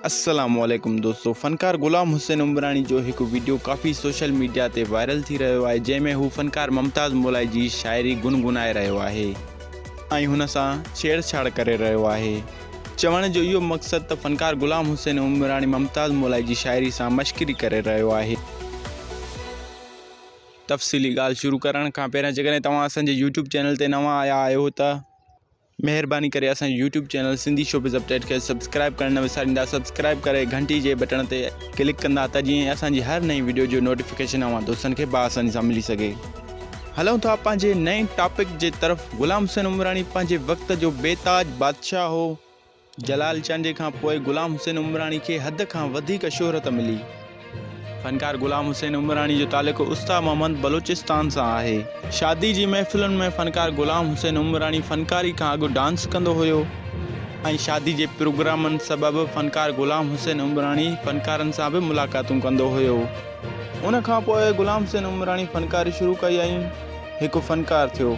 السلام عليڪم دوستو فنڪار غلام حسين عمراڻي جو هڪ ويڊيو ڪافي سوشل ميڊيا تي وائرل ٿي رهيو آهي جنهن ۾ هو فنڪار ممتاز مولائي جي شاعري گنگنائي رهيو آهي ۽ هن سان ڇيڙ ڇاڙ ڪري رهيو آهي چوڻ جو اهو مقصد ته فنڪار غلام حسين عمراڻي ممتاز مولائي جي شاعري سان مشڪري ڪري رهيو آهي تفصيلي ڳالهه شروع ڪرڻ کان پهريان جيڪڏهن توهان اسان جي يوٽيوب چينل تي نوان آيا آهيو ته مهرباني ڪري اسان جو YouTube channel Sindhi showbiz update کي سبسڪرائب ڪرڻ نه وساريندا سبسڪرائب ڪري گهنٽي جي بٽڻ تي ڪلڪ ڪندا ته جيئن اسان جي هر نئين وڊيو جو نوٽيفڪيشن اوهان دوستن کي بآساني سان ملي سگهي هلون ٿا پنهنجي نئين ٽاپڪ جي طرف غلام حسين عمراڻي پنهنجي وقت جو بي تاج بادشاهه هو. جلال چانڊيي کان پوء غلام حسين عمراڻي کي حد کان وڌيڪ شهرت ملي. فنڪار غلام حسين عمراڻي جو تعلق استاد محمد بلوچستان سان آهي. شادي جي محفلن ۾ فنڪار غلام حسين عمراڻي فنڪاري کان اڳ ڊانس ڪندو هيو ۽ شادي جي پروگرامن سبب فنڪار غلام حسين عمراڻي فنڪارن سان به ملاقاتون ڪندو هيو. ان کان پوء غلام حسين عمراڻي فنڪاري شروع ڪئي ۽. هڪ فنڪار ٿيو.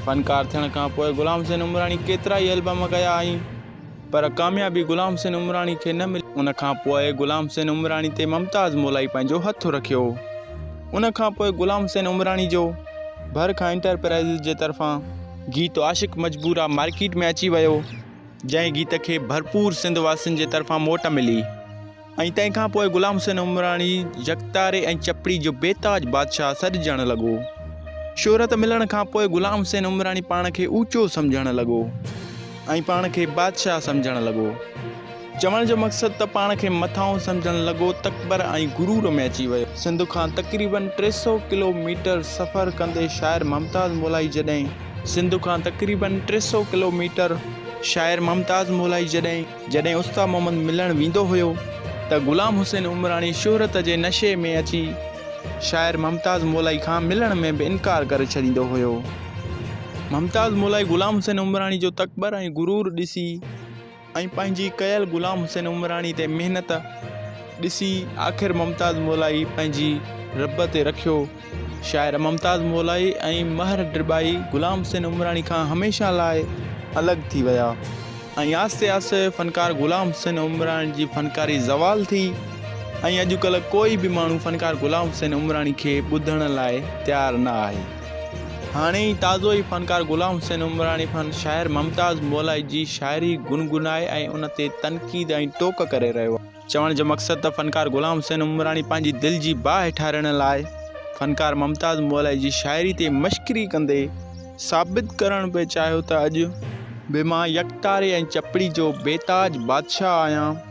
فنڪار ٿيڻ کان پوء غلام حسين عمراڻي ڪيترائي البم ڪيا آهين پر ڪاميابي غلام حسين عمراڻي کي نه ملي. ان کان پوء غلام حسين عمراڻي تي ممتاز مولائي پنهنجو هٿ رکيو. ان کان پوء غلام حسين عمراڻي جو ڀر کان انٽرپرائيزز جي طرفان گيت عاشق مجبورا مارڪيٽ ۾ اچي ويو جنهن گيت کي ڀرپور سنڌ واسين جي طرفان موٽ ملي. ۽ تنهن کان پوء غلام حسين عمراڻي يڪتاري ۽ چپڙي جو بي تاج بادشاهه سڏجڻ لڳو. شهرت ملڻ کان پوء غلام حسين عمراڻي پاڻ کي اوچو سمجهڻ لڳو ۽ پاڻ کي بادشاهه سمجهڻ لڳو. چوڻ جو مقصد ته پاڻ کي مٿانهون سمجهڻ لڳو، تڪبر ۽ غرور ۾ اچي ويو. سنڌ کان تقريباً ٽي سؤ ڪلو ميٽر سفر ڪندي شاعر ممتاز مولائي جڏهن. سنڌ کان تقريباً ٽي سؤ ڪلو ميٽر شاعر ممتاز مولائي جڏهن. جڏهن استاد محمد ملڻ ويندو هيو ته غلام حسين عمراڻي شهرت جي نشي ۾ اچي شاعر ممتاز مولائي کان ملڻ ۾ به انڪار ڪري ڇڏيندو هيو. ممتاز مولائي غلام حسين عمراڻي جو تڪبر ۽ غرور ڏسي ۽ پنهنجي ڪيل غلام حسين عمراڻي تي محنت ڏسي آخر ممتاز مولائي پنهنجي رب تي رکيو شاعر ممتاز مولائي ۽ مهر ڊرٻائي غلام حسين عمراڻي کان هميشه لاء الڳ ٿي ويا ۽ آهستي آهستي فنڪار غلام حسين عمراڻي جي فنڪاري زوال ٿي ۽ اڄڪلهه ڪوئي به ماڻهو فنڪار غلام حسين عمراڻي کي ٻڌڻ لاء تيار نه آهي هاڻي ئي تازو ئي فنڪار غلام حسين عمراڻي فن شاعر ممتاز مولائي جي شاعري گنگنائي ۽ ان تي تنقيد ۽ ٽوڪ ڪري رهيو آهي چوڻ جو مقصد ته فنڪار غلام حسين عمراڻي پنهنجي دل جي باهه ٺارڻ لاء فنڪار ممتاز مولائي جي شاعري تي مشڪري ڪندي ثابت ڪرڻ پئي چاهيو ته اڄ به مان يڪتاري ۽ چپڙي جو بيتاج بادشاهه آهيان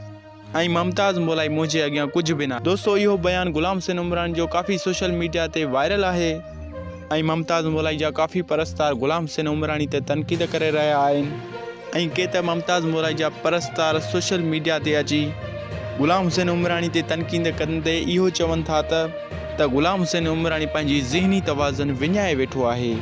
۽ ممتاز مولائي منهنجي اڳيان ڪجهه به ناهي. دوستو اهو بيان غلام حسين عمراڻي جو ڪافي سوشل ميڊيا تي وائرل آهي. ۽ ممتاز مولائي جا ڪافي پرستار غلام حسين عمراڻي تي تنقيد ڪري رهيا آهن ۽ ڪي ته ممتاز مولائي جا پرستار سوشل ميڊيا تي اچي غلام حسين عمراڻي تي تنقيد ڪندي اهو چون ٿا ته ته غلام حسين عمراڻي پنهنجي ذهني توازن وڃائي ويٺو آهي.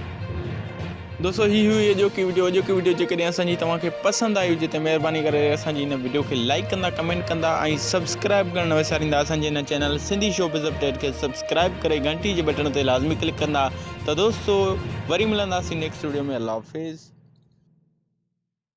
دوستو هي هئي اڄوڪي وڊيو اڄوڪي وڊيو جيڪڏهن اسان جي توهان کي پسند آئي هجي ته مهرباني ڪري اسان جي هن وڊيو کي لائڪ ڪندا ڪمينٽ ڪندا ۽ سبسڪرائب ڪرڻ نه وساريندا اسان جي هن channel Sindhi showbiz update کي سبسڪرائب ڪري گهنٽي جي بٽڻ تي لازمي ڪلڪ ڪندا ته دوستو وري ملنداسين نيڪسٽ وڊيو ۾ الله حافظ